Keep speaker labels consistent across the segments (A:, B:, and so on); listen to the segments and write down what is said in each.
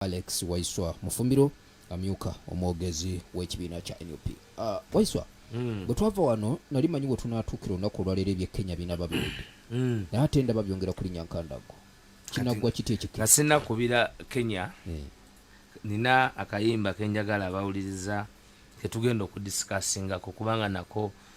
A: Alex Waiswa Mufumbiro amyuka omwogezi w'ekibiina kya nup uh, ah, waiswa mm. bwe twava wano nali manyi we tunaatuukira olunaku olwaleero ebye kenya bina babiwudde mm. naye ate ndaba byongera kulinya nkandago kinaggwa kiti ekikira sinakubira
B: kenya eh. nina akayimba kenjagala abawuliriza ketugenda okudisikassingako kubanga nako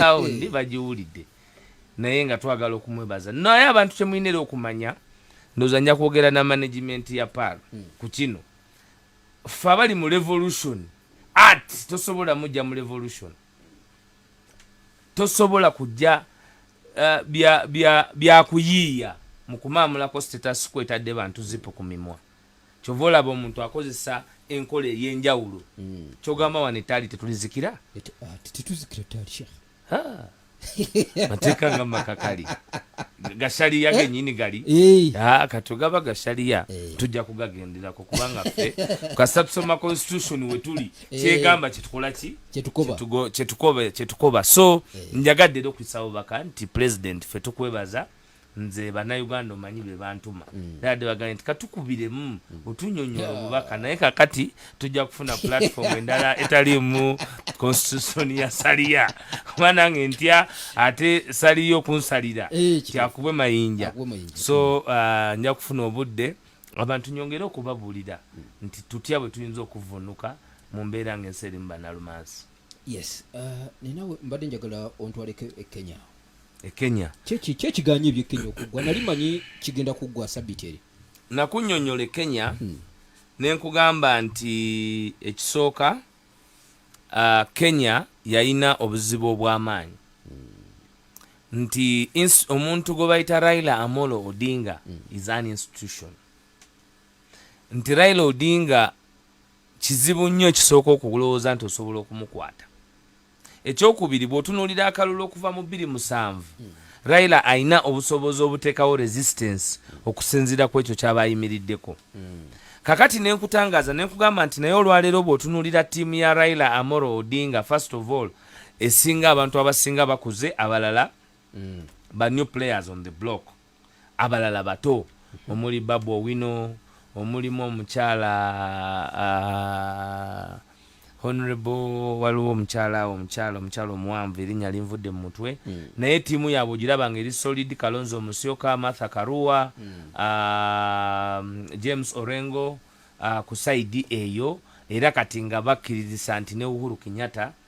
B: awo ndi bagiwulidde naye nga twagala okumwebaza naye abantu kyemulina era okumanya ndoza nja kwogera na management ya pal hmm. ku kino fe abali mu revolution art tosobola mujja mu revolution tosobola kujja uh, byakuyiiya bya, bya mu kumaamulako status kwetadde bantu zipu ku mimwa kyova olaba omuntu akozesa enkola eyenjawulo mm. kyogamba wano etaali tetulizikira ah, tetuzikira taali shekh mateeka nga makakali gasaliya genyini gali eh. ah, katugaba gasaliya eh. tujja kugagenderako kubanga ffe kasita tusoma constitution wetuli eh. kyegamba kyetukolaki kyetukoba so njagadde era okuyisa bubaka nti president fe tukwebaza nze banauganda omanyi bebantuma mm. dade bagambye nti katukubiremu mm. otunyonyola obubaka naye kakati tujja kufuna platform endala etalimu constitution ya saliya kuba nange ntya ate saliya okunsalira eh, kyakubwe mayinja so uh, nja kufuna obudde abantu nyongere okubabuulira mm. nti tutya bwe tuyinza okuvunuka mu mbeera ngaensi erimu banalumansi yes uh,
A: nenawe mbadde njagala ontwaleko e kenya e
B: kenya kyekiganye
A: ebye kenya okuggwa nali manyi kigenda kuggwa sabiti eri nakunyonyola e
B: kenya hmm. nenkugamba nti ekisooka uh, kenya yayina obuzibu obwamaanyi hmm. nti omuntu gwe bayita raila amolo odinga hmm. is an institution nti raila odinga Kizibu nnyo ekisooka okulowooza nti osobola okumukwata. Ekyokubiri, bw'otunuulira akalulu okuva mu bbiri musanvu, hmm. Raila alina obusobozi obuteekawo resistance okusinziira ku ekyo ky'aba ayimiriddeko. Hmm. Kakati ne nkutangaaza ne nkugamba nti naye olwaleero bw'otunuulira ttiimu ya Raila Amoro Odinga, first of all, esinga abantu abasinga bakuze abalala hmm. ba new players on the block. abalala bato omuli Babu Owino, omulimu omukyala uh, honorable waliwo omukyala omukyala omukyala omuwanvu erinnya linvudde mu mutwe mm. naye ttiimu yaabwe ogiraba nga eri solid kalonzo omusyoka martha karua mm. uh, james orengo uh, ku saidi eyo era kati nga bakkiririsa nti ne uhuru kenyatta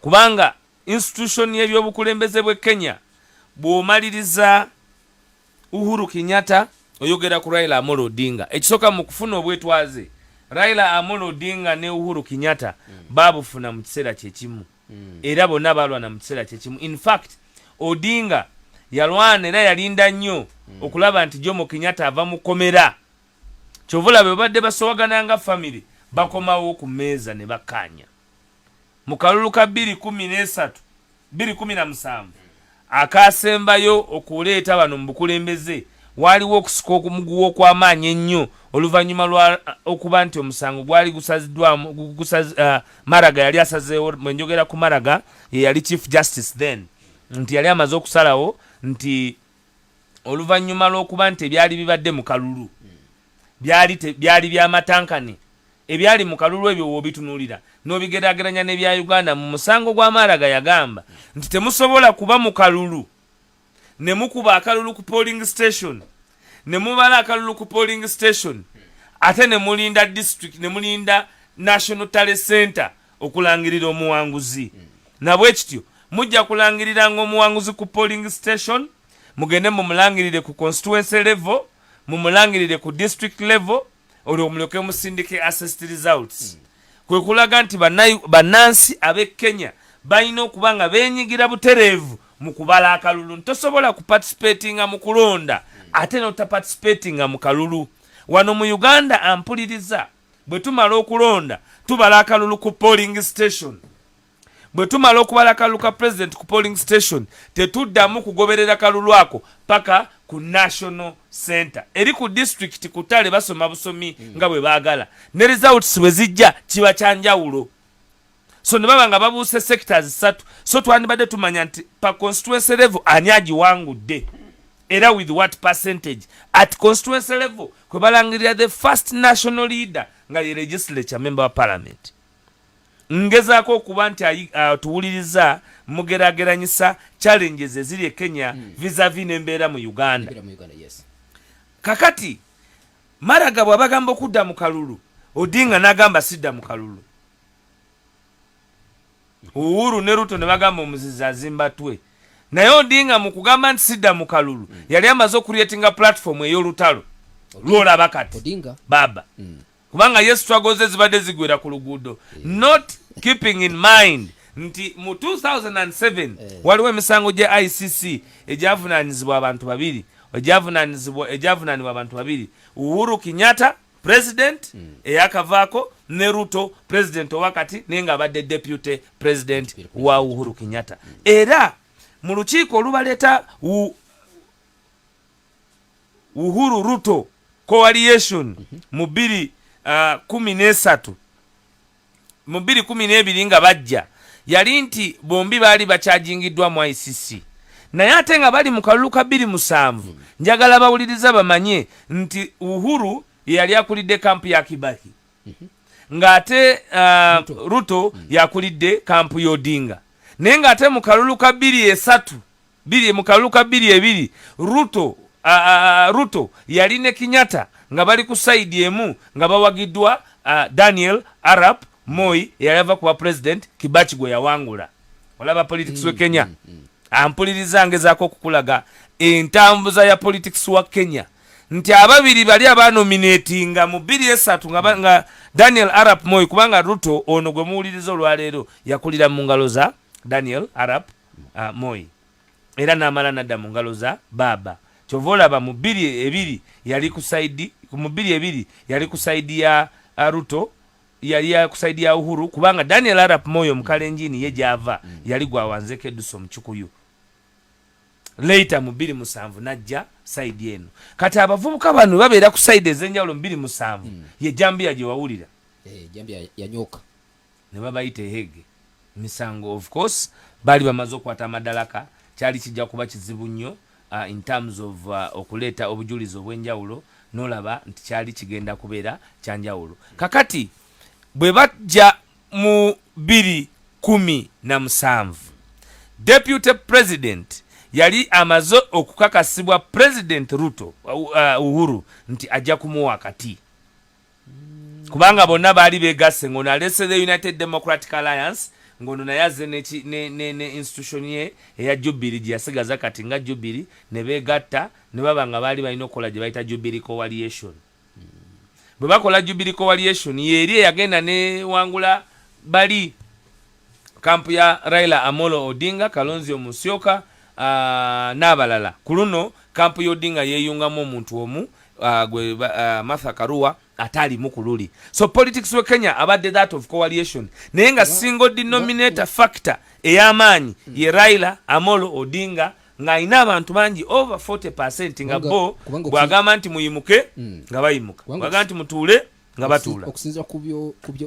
B: kubanga institution y'ebyobukulembeze bwe Kenya bw'omaliriza Uhuru Kenyatta oyogera ku Raila Amolo Odinga ekisooka mu kufuna obwetwaze Raila Amolo Odinga ne Uhuru Kenyatta mm. baabufuna mu kiseera kyekimu mm. era bonna baalwana mu kiseera kyekimu in fact Odinga yalwana era yalinda nnyo mm. okulaba nti Jomo Kenyatta ava mu komera kyovula bwe babadde basowagana nga famire bakomawo ku meeza ne bakkaanya mu kalulu ka bbiri kumi n'esatu bbiri kumi na musanvu akaasembayo okuleeta bano mu bukulembeze waaliwo okusika okumuguwa okw'amaanyi ennyo oluvannyuma lwa okuba nti omusango gwali gusaziddwamu uh, maraga yali asazeewo mwe njogera ku maraga ye yali chief justice then nti yali amaze okusalawo nti oluvannyuma lw'okuba nti ebyali bibadde mu kalulu byali bya matankane ebyali mu kalulu ebyo wobitunuulira n'obigeraageranya n'ebya uganda mu musango gwa maaraga yagamba nti temusobola kuba mu kalulu ne mukuba akalulu ku polling station ne mubala akalulu ku polling station ate ne mulinda district ne mulinda national tale center okulangirira omuwanguzi nabwekityo mujja kulangiriranga omuwanguzi ku polling station mugende mumulangirire ku constituency level mumulangirire ku district level olwo mulyoke musindike assist results mm. kwe kulaga nti bannansi ab'e kenya balina okuba nga benyigira butereevu mu kubala akalulu ntosobola kupatisipatinga mu kulonda ate notapatisipati nga mu kalulu wano mu uganda ampuliriza Bwe tumala okulonda tubala akalulu ku polling station. Bwe tumala okubala akalulu ka president ku polling station tetuddamu kugoberera kalulu ako paka ku national center eri ku district kutale basoma busomi hmm. nga bwe baagala ne results bwe zijja kiba kyanjawulo. so ne baba nga babuuse sectors ssatu so twandibadde tumanya nti pa constituency level ani agiwangudde era with what percentage at constituency level kwe balangirira the first national leader nga ye legislature member wa parliament ngezaako okuba nti uh, tuwuliriza mugerageranyisa challenges eziri e kenya mm. visavi nembeera mu uganda yes.
A: kakati
B: maraga bwabagamba okudda mu kalulu odinga nagamba sidda mu kalulu uhuru ne ruto ne bagamba omuzizi azimba twe naye odinga mu kugamba nti sidda mu kalulu mm. yali amaze okuretinga platform ey'olutalo lwolaba kati odinga baba
A: mm.
B: kubanga yesu twagoze zibadde zigwera ku luguudo yeah. not keeping in mind nti mu 2007 yeah. waliwo emisango gya icc egyavunanyizibwa abantu babiri egyavunanyizibwa egyavunanibwa abantu babiri uhuru kinyata president mm. eyakavaako ne ruto president owakati naye nga abadde deputy president wa uhuru kenyatta mm. era mu lukiiko olubaleeta uhuru ruto coaliation mm -hmm. mu biri uh, kumi nesatu mu 2012 nga bajja yali nti bombi baali bakyajingiddwa mu icc naye ate nga bali mu kalulu ka 27 njagala bawuliriza bamanye nti uhuru yeyali akulidde kampu ya kibaki mhm. ng'ate uh, ruto yakulidde kampu y'odinga naye ng'ate mu kalulu ka 23 Biri mu kalulu ka biri ebiri Ruto, uh, uh, Ruto yali ne Kinyata nga bali ku sayidi emu nga bawagidwa uh, Daniel Arap Moi eyali ava kuba president Kibaki gwe yawangula. Olaba politics mm, we Kenya. Mm, mm. Ampuliriza ngezaako okukulaga entambuza ya politics wa Kenya nti ababiri bali abanominatinga mu biri esatu nga, nga Daniel Arap Moi kubanga Ruto ono gwe muwuliriza olwaleero yakulira mu ngalo za Daniel Arap uh, Moi era n'amala nadda mu ngalo za baaba kyova olaba mu bbiri ebiri yali ku saidi mu bbiri ebiri yali ku saidi ya uh, Ruto yali ya ku saidi ya Uhuru kubanga Daniel Arap Moi omukalenjini ye gyava mm. yali gwawanzeko edusa omucukuyu later mu bbiri musanvu najja saidi eno kati abavubuka bano babeera ku saidi ez'enjawulo mu bbiri musanvu mm. ye jambiya gye wawulira hey, eh, jambiya
A: yanyooka ne babayita
B: ehege misango of course baali bamaze okukwata amadalaka kyali kijja kuba kizibu nnyo uh, in terms of uh, okuleeta obujulizi obw'enjawulo nolaba nti kyali kigenda kubeera kyanjawulo kakati bwe bajja mu biri kumi na musanvu deputy president yali amaze okukakasibwa president ruto uh, uh uhuru nti ajja kumuwa akati kubanga bonna baali begasse ngono alese the united democratic alliance ngono naye azze ne institution ye eya jubiri gyeyasigaza kati nga jubiri ne begatta ne baba nga baali balina okukola gye bayita jubiri coaliation bwe bakola jubiri coalition yeeri eyagenda newangula bali kampu ya Raila Amolo Odinga, Kalonzio Musyoka uh, n'abalala. Ku luno kampu y'Odinga yeeyungamu omuntu omu uh, gwe uh, Martha Karua ataalimu ku luli. So politics we Kenya abadde that of coalition naye nga single denominator factor ey'amaanyi mm. ye Raila Amolo Odinga ng'alina abantu bangi over 40 percent nga bo bw'agamba nti muyimuke mm. nga bayimuka bw'agamba nti mutuule nga batuula okusinzira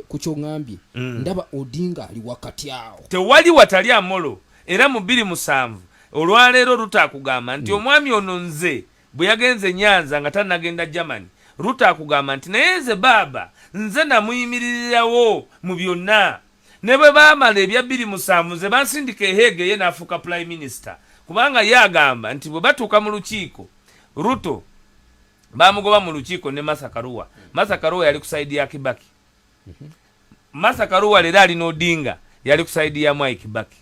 A: ku kyoŋambye mm. ndaba odinga ali wakati awo tewali watali amolo
B: era mu bbiri musanvu olwaleero ruta akugamba nti mm. omwami ono nze bwe yagenze nyanza nga tanagenda germany ruta akugamba nti naye nze baaba nze namuyimiririrawo mu byonna ne bwe baamala ebya bbiri musanvu nze bansindika eheege ye n'afuuka prime minister kubanga ye agamba nti bwe batuuka mu lukiiko ruto bamugoba mu lukiiko ne masa karuwa masa karuwa yali ku saidi ya kibaki mhm. masa karuwa leero ali n'odinga yali ku saidi ya mwai kibaki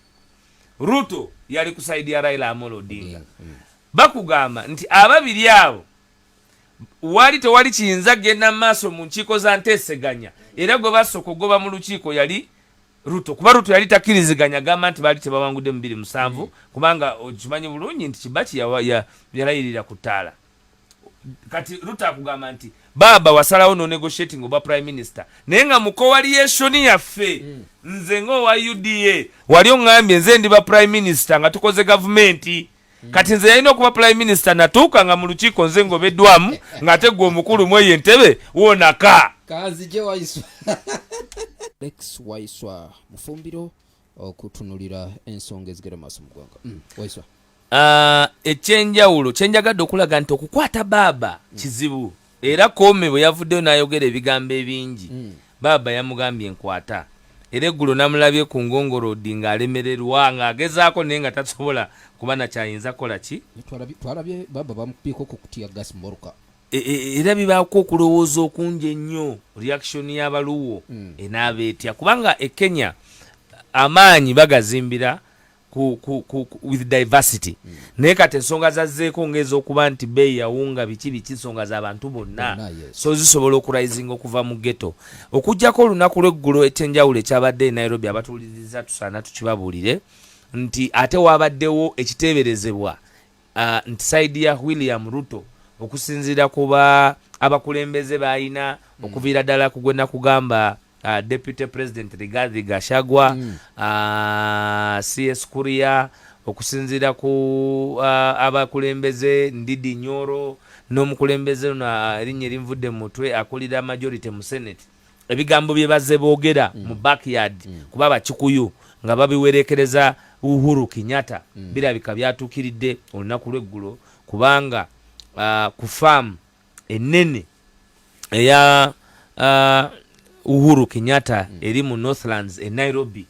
B: ruto yali ku saidi ya raila amolo odinga mm, mm. bakugamba nti ababiri abo wali tewali kiyinza genda mu maaso mu nkiiko za nteeseganya era gwe basooka okugoba mu lukiiko yali ruto kuba ruto yali takiriziganya gamba nti baali tebawangude mubiri musanvu mm. kubanga okimanyi bulungi nti kibaki yalayirira ku ttaala kati ruta akugamba nti baaba wasalawo no negotiating oba prime minister naye nga mu coaliation yaffe mm. nze ngaowa uda wali oŋambye nze ndi ba prime minister nga tukoze gavumenti mm. kati nze yalina okuba prime minister natuuka nga mu lukiiko nze ngaobeddwamu ng'ate gwe omukulu mu eyo entebe wonaka kanzije waiswa
A: lex waiswa mufumbiro okutunulira ensonga ezigera maaso mu ggwanga mm, waiswa ah, ekyenjawulo
B: kyenjagadde okulaga nti okukwata baaba mm. kizibu era koome bwe yavuddeyo n'ayogera ebigambo ebingi mm. baaba yamugambye enkwata era eggulo namulabye ku ngongorodi ng'alemererwa ng'agezaako naye nga tasobola kuba nakyayinza kukola ki twalabye baaba
A: bamupiiko ku kutya gas moruka E, e, era
B: bibaako okulowooza okungi ennyo reaction y'abaluwo hmm. enaaba etya kubanga e kenya amaanyi bagazimbira ku, ku, ku, ku, with diversity mm. naye kati ensonga zazzeeko ngaezokuba nti beeyi yawunga biki biki nsonga za bantu bonna no, yes. so zisobola okurisinga okuva mu geto okugjako olunaku lweggulo ekyenjawulo ekyabadde e nairobi abatuwuliriza tusaana tukibabuulire nti ate waabaddewo ekiteeberezebwa uh, nti saidi ya william ruto okusinziira kuba abakulembeze balina mm. okuviira ddala kugwena kugamba uh, deputy president rigathi gashagwa mm. uh, cs kuria okusinziira ku uh, abakulembeze ndidi nyoro n'omukulembeze no uh, erinnya erinvudde mu mutwe akulira majority mu senate ebigambo bye bazze boogera mm. mu backyard mm. kuba bakikuyu nga babiwerekereza uhuru kinyata mm. birabika byatuukiridde olunaku lweggulo kubanga uh, ku faamu enene eya uh, uhuru kinyata mm. eri mu northlands e nairobi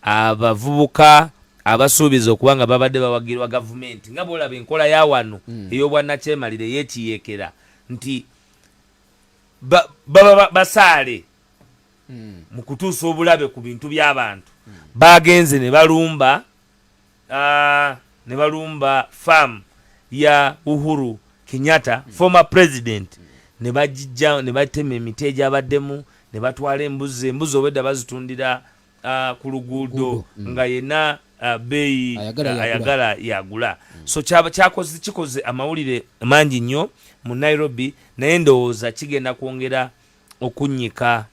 B: abavubuka abasuubiza okuba nga babadde bawagirwa gavumenti nga bwolaba enkola ya wano mm. ey'obwannakyemalira ey'ekiyeekera nti baba basaale hmm. mu kutuusa obulabe ku bintu by'abantu hmm. bagenze ne balumba ah, ne balumba faamu ya uhuru kenyatta hmm. former president ne bagijja ne batema emiti egyabaddemu ne batwala embuzi embuzi obwedda bazitundira uh, ku luguudo mm. nga yena uh, beeyi uh, ayagala yagula mm. so kyakoze kikoze amawulire mangi nnyo mu nairobi naye ndowooza kigenda kwongera okunnyika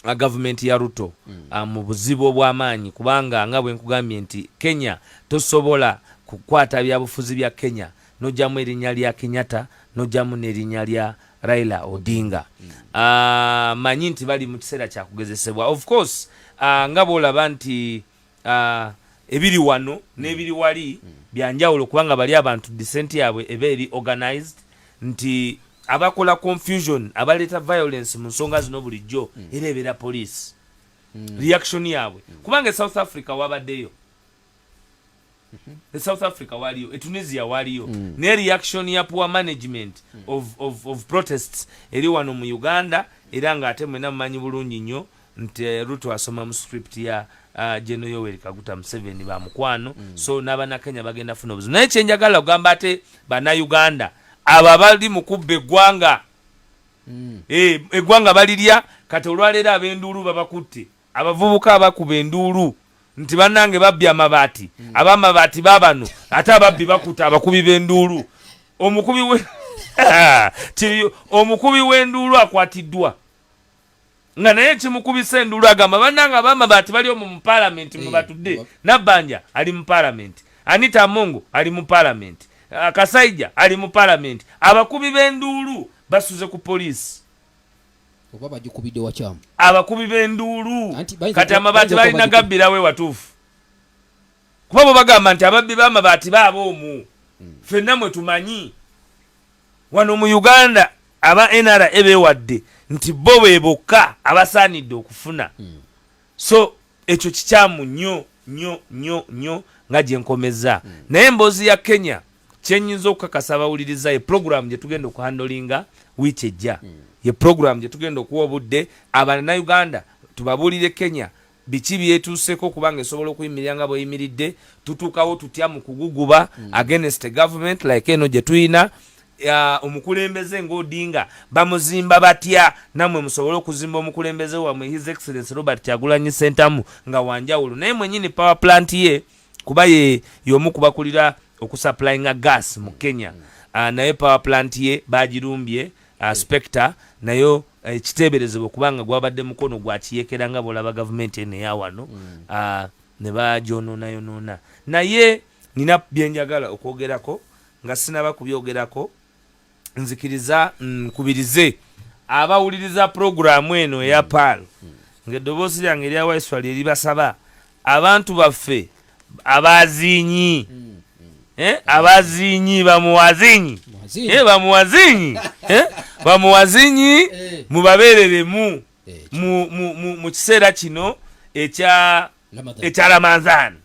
B: uh, gavumenti ya ruto mm. uh, mu buzibu obw'amaanyi kubanga nga bwe nkugambye nti kenya tosobola kukwata byabufuzi bya kenya nojamu erinya lya Kenyatta nojamu nerinya lya Raila Odinga mm. uh, manyi nti bali mukiseera kyakugezesebwa of course uh, nga bolaba nti uh, ebiri wano mm. nebiri wali mm. byanjawulo kubanga bali abantu desent yabwe eba eri organized nti abakola confusion abaleeta violence mu nsonga zino bulijjo mm. era ebeera police mm. reaction yabwe mm. kubanga e south africa wabaddeyo e south africa waliyo e tunisia waliyo mm. ne reaction ya poor management mm. of, of, of protests eri wano mu uganda era nga ate mwena mumanyi bulungi nnyo nti eh, ruto asoma mu script ya uh, geno yoweri kaguta museveni ba mukwano mm. so n'abanakenya bagenda funa obuzibu naye kyenjagala okugamba ate banauganda abo abali mu kubba eggwanga mm. e, eggwanga balirya kati olwaleero abenduulu babakutte Abavubuka bakuba enduulu nti bannange babbye amabaati hmm. abamabaati babano ate ababbi bakuta abakubi b'enduulu omukubi we kiriyo omukubi w'enduulu akwatiddwa nga naye kimukubisa enduulu agamba bannange abamabaati bali omu mu palamenti mwe hmm. batudde nabbanja ali mu palamenti anita amongo ali mu palamenti ah, kasaija ali mu palamenti abakubi b'enduulu basuze ku poliisi
A: oba bagikubidde wakyamu abakubi b'enduulu
B: kati amabaati balina gabbirawo ewatuufu kuba bwe bagamba nti ababbi b'amabaati baaba omu hmm. fenna mwe tumanyi wano mu uganda aba nra bewadde nti bo be bokka abasaanidde okufuna hmm. so ekyo kikyamu nyo nyo nyo nyo nga gyenkomeza mm. naye emboozi ya kenya kyenyinza okukakasa abawuliriza ye pulogulaamu gye tugenda okuhandolinga wiiki ejja mm. ye pulogulaamu gye tugenda okuwa obudde abananauganda tubabuulire kenya biki byetuuseko kubanga esobola okuyimirira nga bweyimiridde tutuukawo tutya mu kuguguba mm. against government like eno gye tuyina omukulembeze nga odinga bamuzimba batya namwe musobole okuzimba omukulembeze wamwe his excellence robert kyagulanyi sentamu nga wanjawulo naye mwenyini power plant ye kuba ye yomu kubakulira okusupplyinga gas mu kenya uh, naye power plant ye bagirumbye uh, ah, spector nayo eh, ekiteeberezebwa uh, kubanga gwabadde mukono gwakiyekera nga bolaba gavumenti eno eyawano mm. uh, ne bagyononayonoona naye nina byenjagala okwogerako nga sinaba kubyogerako nzikiriza nkubirize mm, abawuliriza pulogulaamu eno eya mm. paal mm. ng'eddoboozi lyange erya waiswa lye libasaba abantu baffe abazinyi eh, abazinyi bamuwazinyi eh, bamuwazinyi eh, bamuwazinyi mubabeereremu mu kiseera kino ekya ekya ramadhan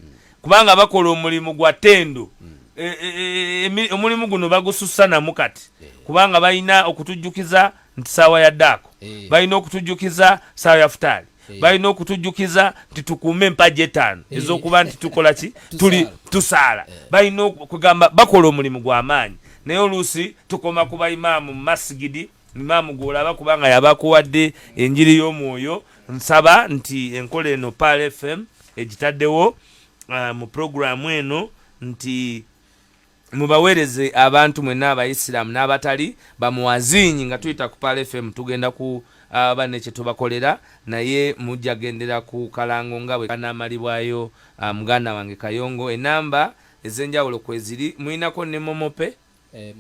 B: kubanga bakola omulimu gwa tendo e, e, e, omulimu guno bagusussanamu kati kubanga balina okutujjukiza nti saawa ya daako balina okutujjukiza saawa ya futaali balina okutujjukiza nti tukuume empagi etaano ez'okuba nti tukola ki tuli tusaala balina okugamba bakola omulimu gw'amaanyi naye oluusi tukoma ku baimaamu mu masigidi Imaamu gw'olaba kubanga yabakuwadde enjiri y'omwoyo nsaba nti enkola eno Pearl FM egitaddewo uh, mu pulogulaamu eno nti mubaweereze abantu mwenna abayisiraamu n'abatali bamuwaziinyi nga tuyita ku Pearl FM tugenda ku aba ne kye tubakolera naye mujja gendera ku kalango nga bwe kanaamalibwayo uh, muganda wange kayongo enamba ez'enjawulo kweziri mulinako ne momope eh,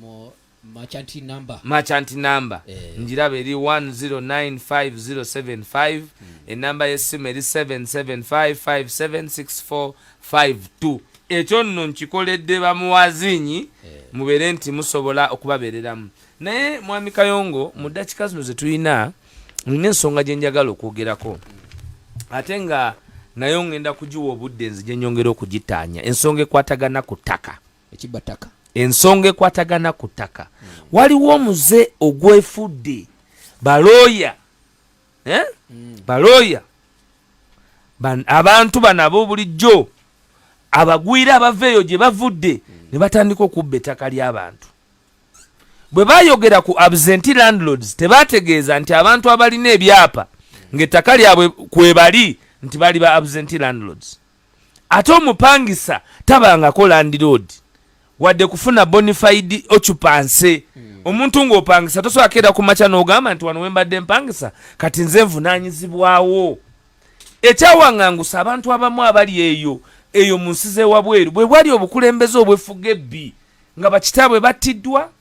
B: merchant number, merchant number. Eh. njiraba eri 109507 mm. enamba y'essimu eri 77557645 ekyo nno nkikoledde bamuwazinyi eh. mubeere nti musobola okubabeereramu naye mwami kayongo mu ddakika zino ze tulina nina ensonga gye njagala okwogerako mm. ate nga nayo ngenda kugiwa obudde nzije nyongera okugitaanya ensonga ekwatagana ku ttaka ekibba ttaka
A: ensonga
B: ekwatagana ku ttaka mm. waliwo omuze ogwefudde balooya eh? mm. balooya abantu bano ab'obulijjo abagwira abava eyo gye bavudde mm. ne batandika okubba ettaka ly'abantu bwe bayogera ku absenti landlords tebategeeza nti abantu abalina ebyapa ng'ettaka lyabwe kwebali nti bali ba absenti landlords ate omupangisa tabangako landiroodi wadde kufuna bonified occupancy hmm. omuntu ng'opangisa tosobola keera ku makya n'ogamba nti wano wembadde mpangisa kati nze nvunaanyizibwawo ekyawaŋangusa abantu abamu abali eyo eyo mu nsi z'ewabweru bwe bwali obukulembeze obwefuga ebbi nga bakitaabwe battiddwa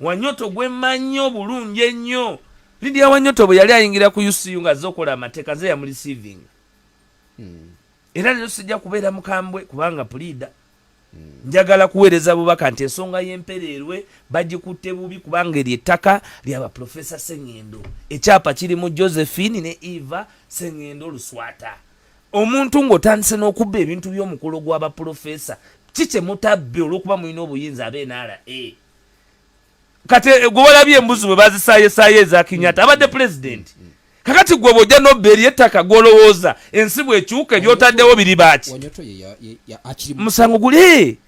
B: wanyoto gwe mmanyi obulungi ennyo lidia wanyoto bwe yali ayingira ku ucu ng'azze okola amateeka nze yamuli saving hmm. era leero sijja kubeera mukambwe kubanga puliida njagala kuweereza bubaka nti ensonga y'empereerwe bagikutte bubi kubanga eryo ettaka lyaba profesa seŋŋendo ekyapa kiri mu josephine ne eva seŋŋendo luswata omuntu ng'otandise n'okubba ebintu by'omukolo gw'abaprofesa ki kye mutabbi olw'okuba mulina obuyinza abe nra kati eh, gwe walabye embuzi bwe bazisaayesaayo eza kinyata abadde pulezidenti mm, mm. kakati gwe bwojja nobba eri ettaka gwolowooza ensi bwekyuka ebyotaddewo biri baaki musango guli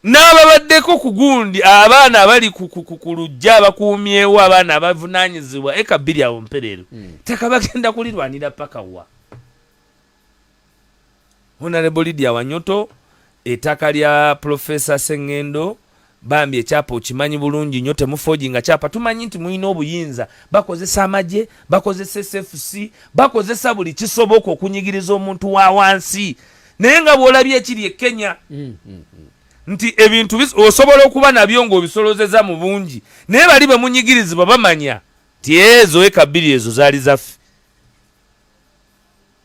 B: n'ababaddeko ku gundi abaana abali ku lujja abakuumyewo abaana abavunanyizibwa eka bbiri awo mpereero mm. ttaka bagenda kulirwanira paka wa Honorable Lydia Wanyoto etaka lya Professor Sengendo bambi ekyapa okimanyi bulungi nyo temufoji nga kyapa tumanyi nti muyina obuyinza bakozesa amaje bakozesa SFC bakozesa buli kisoboka okunyigiriza omuntu wa wansi naye nga bwolabye ekiri e Kenya mm, mm, mm. nti ebintu osobola okuba nabyo ng'obisolozeza mu bungi naye bali bemunyigirizibwa bamanya ti ezo eka bbiri ezo zaali zaffe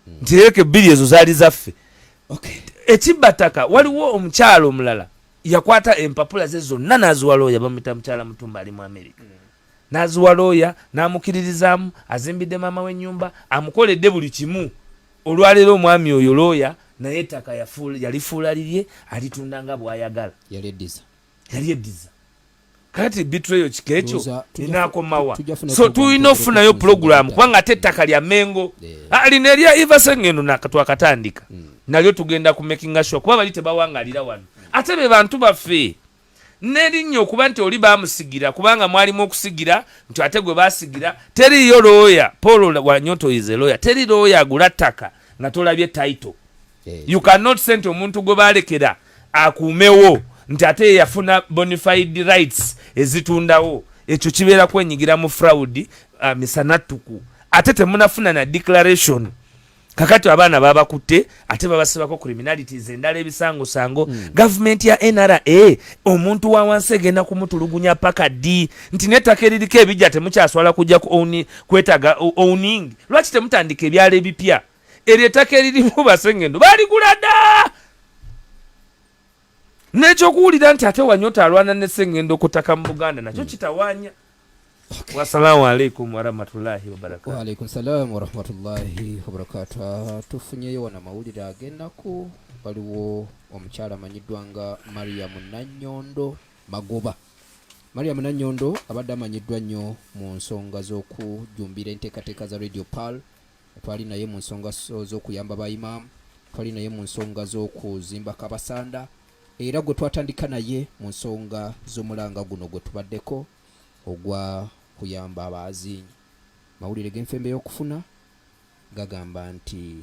B: hmm. nti eka ebbiri ezo zaali zaffe ekibbataka waliwo omukyalo omulala yakwata empapula ze zonna n'aziwa looya bamuyita mukyala mutumba ali mu amerika hmm. n'aziwa looya n'amukiririzaamu azimbidde maama w'ennyumba amukoledde buli kimu olwaleero omwami oyo looya naye ettaka yalifuula lirye alitunda nga bw'ayagala
A: yali eddiza
B: kati bitreyo kikekyo inakomawa so tulina okufunayo pulogulaamu kubanga ate ettaka lya mengo eh. ah, lino erya ivasengeno twakatandika hmm. nalyo tugenda ku makinga sure kuba bali tebawangalira wano ate be bantu baffe nerinnya okuba nti oli bamusigira kubanga mwalimu okusigira nti ate gwe basigira teriyo looya paul wanyotoyize looya teri looya agula ttaka nga tolabye title eh. you cannot send omuntu gwe balekera akuumewo nti ate yafuna bonified rights ezitundawo ekyo kibeera kwenyigira mu fraud uh, misanattuku ate temunafuna na declaration kakati abaana babakutte ate babasibako criminalities endala ebisangosango mm. gavumenti ya nra omuntu wa wansi egenda kumutulugunya paka ddi nti nettaka eririko ebijja temukyaswala kujja kwetaga owning lwaki temutandika ebyalo ebipya eryo ettaka eririmu basengendo baligula da nekyokuwulira nti ate wanyota alwana nesengendo okutaka mu buganda nakyo hmm. kitawanya wasalamu alaikum warahmatullahi wabarakatuwaalaikumsalamu
A: warahmatullahi wabarakatu ah, tufunyeyo wano amawulire agenaku waliwo omukyala amanyiddwa nga mariamu nanyondo magoba mariamu nanyondo abadde amanyiddwa nnyo mu nsonga z'okujjumbira enteekateeka za radio pal twali naye mu nsonga z'okuyamba ba imaamu twali naye mu nsonga z'okuzimba kabasanda era gwe twatandika naye mu nsonga z'omulanga guno gwe tubaddeko ogwa kuyamba abaazinyi mawulire g'enfembe y'okufuna gagamba nti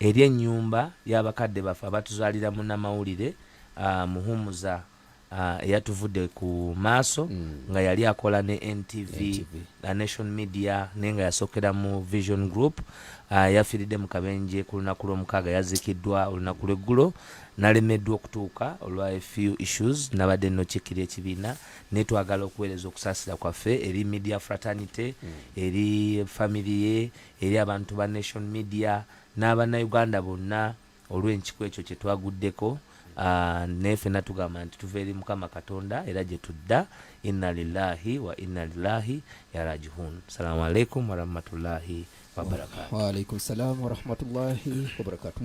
B: eri ennyumba y'abakadde baffe abatuzaalira munnamawulire ah, Muhumuza ah, eyatuvudde ku maaso nga yali akola ne NTV, NTV. na Nation Media naye nga yasookera mu Vision Group ah, yafiiridde mu kabenje ku lunaku lw'omukaaga yaziikiddwa olunaku lw'eggulo nalemeddwa okutuuka olwa a few issues nabadde nokikkira ekibiina naye twagala okuweereza okusaasira kwaffe eri media fraternity eri family ye eri abantu ba Nation Media n'abannayuganda bonna olw'enkiku ekyo kye twaguddeko Ah, naye fena tugamba nti tuva eri mukama katonda era gye tudda inna lillahi wa inna lillahi yarajihun salamu alaikum
A: warahmatullahi wabarakatu waalaikum salamu warahmatullahi wabarakatu